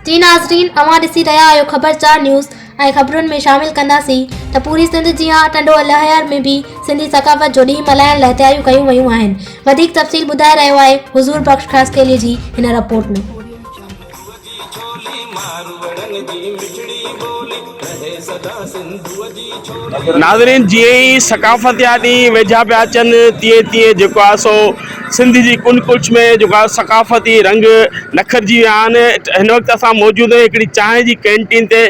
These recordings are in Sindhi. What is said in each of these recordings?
جي ناظرين اوهان ڏسي رهيا آهيو خبر چار نيوز ۽ خبرن ۾ شامل ڪنداسين ته پوري سنڌ جيان ٽنڊو الهيار ۾ به سنڌي ثقافت جو ڏينهن ملهائڻ لاء تياريون ڪيون ويون آهن وڌيڪ تفصيل ٻڌائي رهيو آهي حضور بخش خاصخيلي جي هن رپورٽ ۾ سنڌوء جي ڇولي ماروئڙن جي مٺڙي ٻولي رهي سدا سنڌوء جي ڇولي. ناظرين جيئن ئي ثقافت جا ڏينهن ويجها پيا اچن تيئن تيئن جيڪو آهي سو سنڌ جي ڪن ڪڙڇ ۾ جيڪو آهي ثقافتي رنگ نکرجي ويا آهن هن وقت اسان موجود آهيون هڪڙي چانهه جي ڪينٽين تي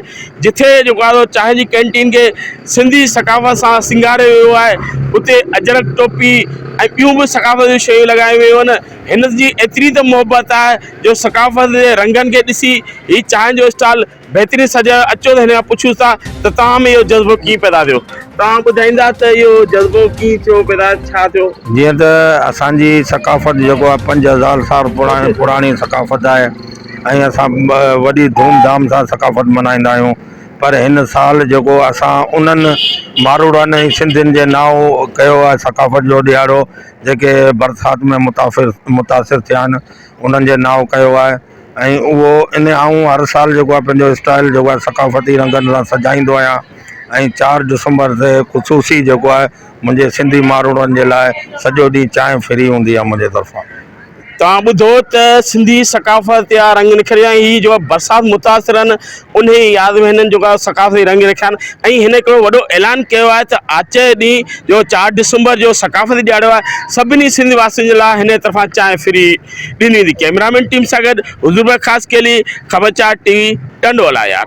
جتي جيڪو آهي سو چانهه جي ڪينٽين کي سنڌي ثقافت سان سينگاريو ويو آهي اتي اجرڪ ٽوپي ۽ ٻيون به ثقافت جون شيون لڳايون ويون آهن هن جي ايتري ته محبت آهي جو ثقافت جي رنگن کي ڏسي هي چانهه جو اسٽال بهترين سجيو آهي اچو ته هن کان پڇيون ٿا ته توهان ۾ اهو جذبو ڪيئن پيدا ٿيو توهان ٻڌائيندا ته اهو جذبو ڪيئن ٿيو پيدا ڇا ٿيو. جيئن ته اسان جي ثقافت جيڪو آهي پنج هزار سال پراڻي ثقافت آهي ۽ اسان وڏي ڌوم ڌام سان ثقافت ملهائيندا آهيون پر هن سال جيڪو اسان انهن ماروڙن ۽ سنڌين جي نانء ڪيو آهي ثقافت جو ڏيهاڙو جيڪي برسات ۾ متاثر متاثر ٿيا آهن انهن جي نانء ڪيو آهي ۽ اهو ان آئون هر سال جيڪو آهي پنهنجو اسٽائيل جيڪو آهي ثقافتي رنگن سان سجائيندو آهيان ۽ چار ڊسمبر تي خصوصي جيڪو آهي منهنجي سنڌي ماروئڙن جي لاء سڄو ڏينهن چانهه فري هوندي آهي منهنجي طرفان توهان ٻڌو ته سنڌي ثقافت يا رنگ نکريا ۽ هي جو برسات متاثرن انهيء ياد ۾ هنن جيڪا ثقافتي رنگ رکيا آهن ۽ هن هڪڙو وڏو اعلان ڪيو آهي ته آچر جي ڏينهن جو چار ڊسمبر جو ثقافتي ڏيهاڙو آهي سڀني سنڌ واسين جي لاء هنن طرفان چانهه فري ڏني ويندي ڪئميرامين ٽيم سان گڏ حضور بخش خاصخيلي خبرچار ٽي وي ٽنڊو الايار.